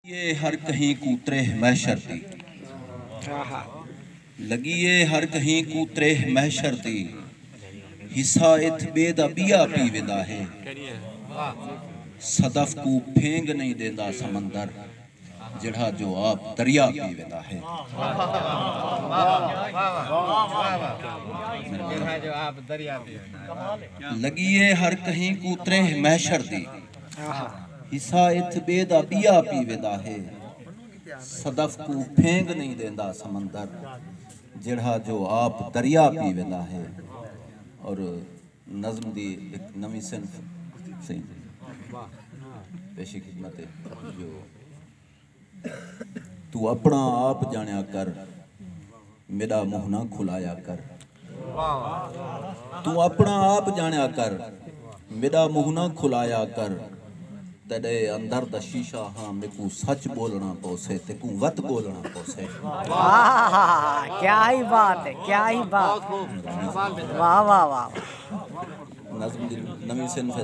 لگی اے ہر کہیں کوں تریہہ محشر دی۔ لگی اے ہر کہیں کوں تریہہ محشر دی۔ حصہ اتھ ٻئے دا ٻیا پی ویندا ہے۔ صدف کوں پھینگ نئیں ݙیندا سمندر جیڑھا جو آپ دریا پی ویندا ہے۔ لگی اے ہر کہیں کوں تریہہ محشر دی۔ حصہ اتھ ٻئے دا ٻیا پی ویندا ہے۔ صدف کوں پھینگ نئیں ݙیندا سمندر جیڑھا جو آپ دریا پی ویندا ہے۔ اور نظم دی ہک نویں صنف سئیں پیشی خدمت ہے جو۔ توں اپݨا آپ ڄاݨیا کر میݙا منہ نہ کھلایا کر توں اپݨا آپ ڄاݨیا کر میݙا منہ نہ کھلایا کر تیݙے اندر دا شیشہ ہاں میکوں سچ ٻولݨا پوسے تیکوں وت ٻولݨا پوسے نظم دی نویں صنف ہے۔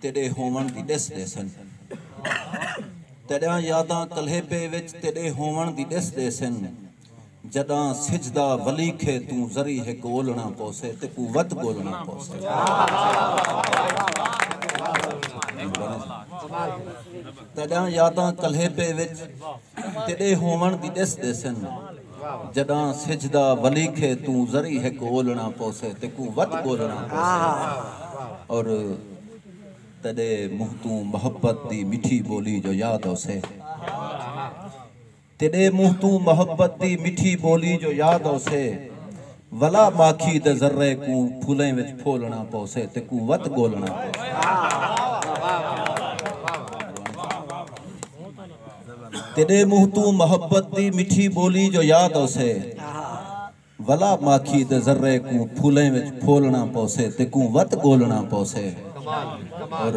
تیݙے ہووݨ دی ݙس ݙیسن۔ تیݙیاں یاداں کلیپے وچ تیݙے ہووݨ دی ݙس ݙیسن۔ جݙاں سجدہ ولیکھے توں ذری ہک اولݨا پوسے تے قوت ڳولݨا پوسے۔ تیݙیاں یاداں کلیپے وچ۔ تے ݙے ہووݨ دی ݙس ݙیسن جݙاں سجھدا ولیکھے توں ذری ہک اولݨا پوسے تیکوں وت ٻولݨا پوسے اور تیݙے منہ توں محبت دی مٹھی ٻولی جو یاد اوسے تیݙے منہ توں محبت دی مٹھی ٻولی جو یاد اوسے ولا ماکھی دے ذرے کوں پھلیں وچ پھولݨا پوسے تیکوں وت ٻولݨا پوسے۔ تیݙے منہ توں محبت دی مٹھی ٻولی جو یاد اوسے ولا ماکھی دے ذرے کوں پھولیں وچ پھولݨا پوسے تیکوں وت ڳولݨا پوسے اور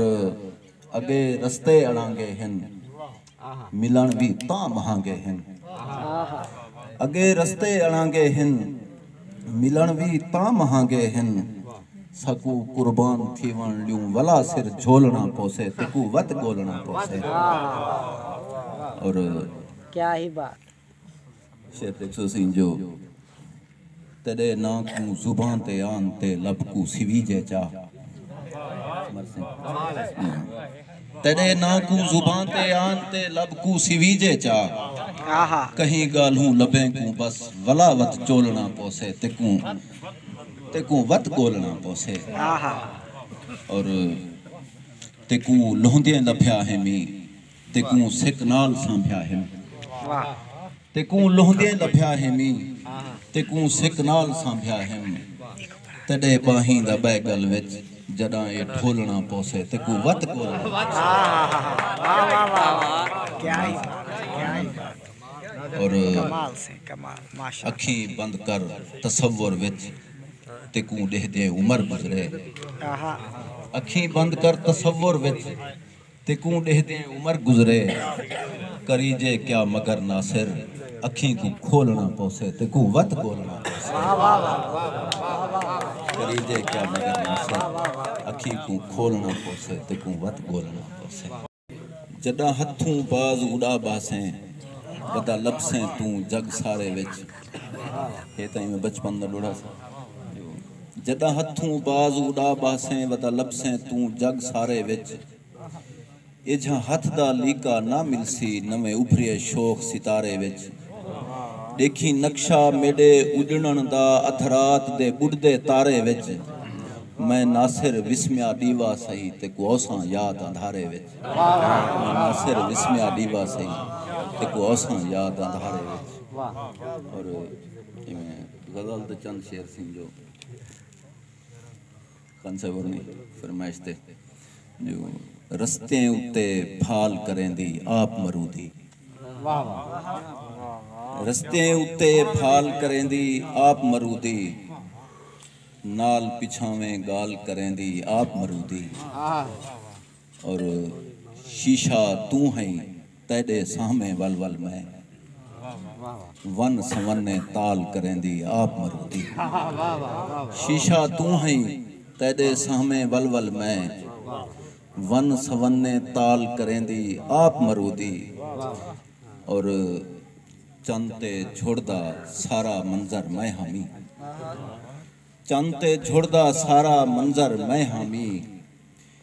اڳے رستے اڑانگے ہن ملݨ وی تاں مہانگے ہن اڳے رستے اڑانگے ہن ملݨ وی تاں مہانگے ہن ساکوں قربان تھیوݨ لیوں ولا سر جھولݨا پوسے تیکوں وت ڳولݨا پوسے اور شعر ݙیکھسو سئیں جو تیݙے ناں کوں زبان تے آن تے لب کوں سویجے چا مرسیں۔ تیݙے ناں کوں زباں تے آن تے لب کوں سیویجے چا کہیں ڳالھوں لبیں کوں بس ولا وت چولݨا پوسے تیکوں تیکوں وت ڳولݨا پوسے اور تیکوں لہندیں لبھیا ہیمی تیکوں سک نال سانبھیا ہیم۔ تیکوں لہندیں لبھیا ہیمی تیکوں سک نال سانبھیا ہیم تیڈے باہیں دا بئے گل وچ جڈاں اے ڈھولنا پوسے تیکوں وت کول اور اکھیں بند کر تصور وچ تیکوں ڈیہدے عمر گزرے اکھیں بند کر تصور وچ تیکوں ݙیہدیں عمر گزرے کریجے کیا مگر ناصر اکھیں کوں کھولݨا پوسے تیکوں وت ڳولݨا پوسے کریجے کیا مگر ناصر اکھیں کوں کھولݨا پوسے تیکوں وت ڳولݨا پوسے۔ جݙاں ہتھوں باز اݙا ٻہسیں ودا لبھسیں توں جڳ سارے وچ ہے تاں ایویں بچپن دا ݙوڑھا سی۔ جݙاں ہتھوں باز اݙا ٻہسیں ودا لبھسیں توں جڳ سارے وچ ایجھاں ہتھ دا لیکا نہ ملسی نویں ابھریے شوخ ستارے وچ ݙیکھیں نقشہ میݙے اݙݨݨ دا ادھ رات دے ٻݙدے تارے وچ میں ناصر وسمیا ݙیوا سہی تے کوہساں یاد اندھارے وچ میں ناصر وسمیا ݙیوا سہی تے کوہساں یاد اندھارے وچ اور ایویں غزل دے چند شعر سن جو خان صاحب ہوریں دی فرمائش تے جو رستیں اتے پھال کریندی آپ مرودی رستیں اتے پھال کریندی آپ مرودی نال پچھاویں گال کریندی آپ مرودی اور شیشہ توں ہئیں تیڈے سامھیں ول ول میں ون سونے تال کریندی آپ مروندی شیشہ توں ہئیں تیڈے سامھیں ول ول میں ون سونے تال کریندی آپ مروندی اور چن تے جھڑدا سارا منظر میں ہامی چن تے جھڑدا سارا منظر میں ہامی۔